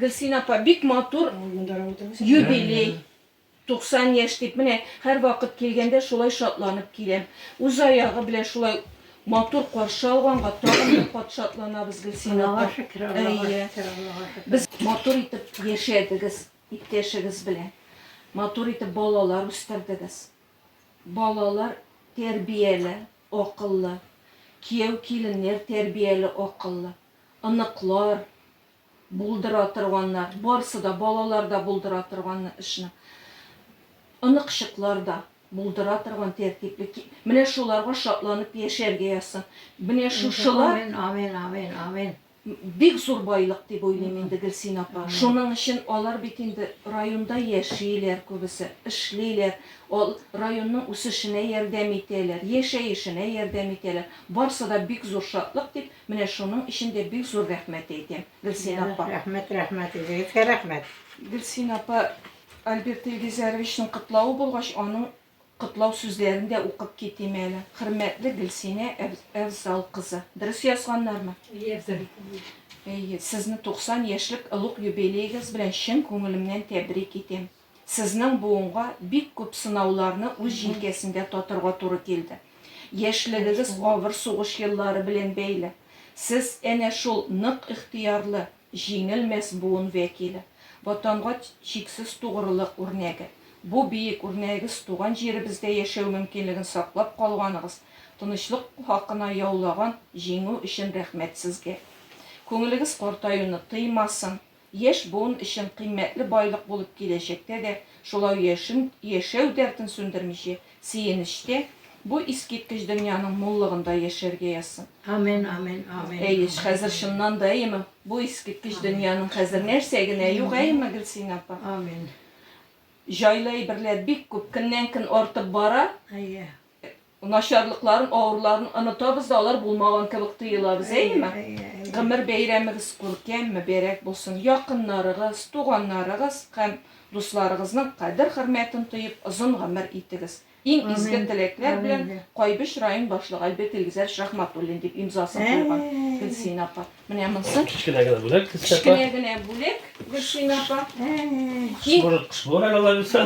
Гөлсинә апа, бик матур юбилей, 90 яшь дип, менә һәрвакыт килгәндә шулай шатланып киләм. Үз аягы белән шулай матур каршы алганга тагын да кат шатланабыз, Гөлсинә апа. Аллага шөкер, Аллага шөкер, Аллага шөкер. Без матур итеп яшәдегез иптәшегез белән. Матур итеп балалар үстердегез. Балалар тәрбияле, акыллы. Кияү-киленнәр тәрбияле, акыллы. Оныклар. Булдыра торганнар, барысы да, балалар да булдыра торган эшне. Оныкчыклар да булдыра торган тәртипле. Менә шуларга шатланып яшәргә язсын. Менә шушылар. Амин, амин, амин, амин. Бик зур байлык дип уйлыйм инде, Гөлсин апа. Шуның өчен алар бит инде районда яшиләр күбесе, эшлиләр, районның үсешенә ярдәм итәләр, яшәешенә ярдәм итәләр. Барысы да бик зур шатлык, дип Менә шуның өчен дә бик зур рәхмәт әйтәм, Гөлсинә апа. Ярар, рәхмәт, рәхмәт, үзегезгә рәхмәт. Гөлсинә апа, Альберт Илгизәровичның котлавы булгач, аның котлау сүзләрен дә укып китим әле. Хөрмәтле Гөлсинә Әфзал кызы. Дөрес язганнармы? Әйе, Әйе, сезне 90 яшьлек олуг юбилеегыз белән чын күңелемнән тәбрик итәм. Сезнең буынга бик күп сынауларны үз җилкәсендә татырга туры килде. Яшьлегегез авыр сугыш еллары белән бәйле. Сез, әнә шул нык ихтыярлы, җиңелмәс буын вәкиле. Ватанга чиксез тугрылык үрнәге. Бу биек үрнәгез туган җиребездә яшәү мөмкинлеген саклап калганыгыз, тынычлык хакына яулаган җиңү өчен рәхмәт сезгә. Күңелегез картаюны тыймасын, Яшь буын өчен кыйммәтле байлык булып киләчәктә дә шулай яшен, яшәү дәртен сүндермичә, сөенечтә, бу искиткеч дөньяның муллыгында яшәргә язсын. Амин, амин, амин. Әйе, хәзер чыннан да, әйеме? Бу искиткеч дөньяның хәзер нәрсә генә юк, әйеме, Гөлсинә апа? Амин. Җайлы әйберләр бик күп, көннән-көн артып бара. Әйе. Начарлыкларын, авыруларын онытабыз да, алар булмаган кебек тоелабыз, әйеме? Гомер бәйрәмегез күркәм, мөбәрәк булсын. Якыннарыгыз, туганнарыгыз һәм дусларыгызның кадер-хөрмәтен тоеп, озын гомер итегез. Иң изге теләкләр белән, Кайбыч район башлыгы Альберт Илгизәрович Рәхмәтуллин, дип имзасын куйган Гөлсинә апа. Менә монысы. Кечкенә генә бүләк, Гөлсинә апа. Кечкенә генә бүләк, Гөлсинә апа. Кыш булыр әле, алла бирса.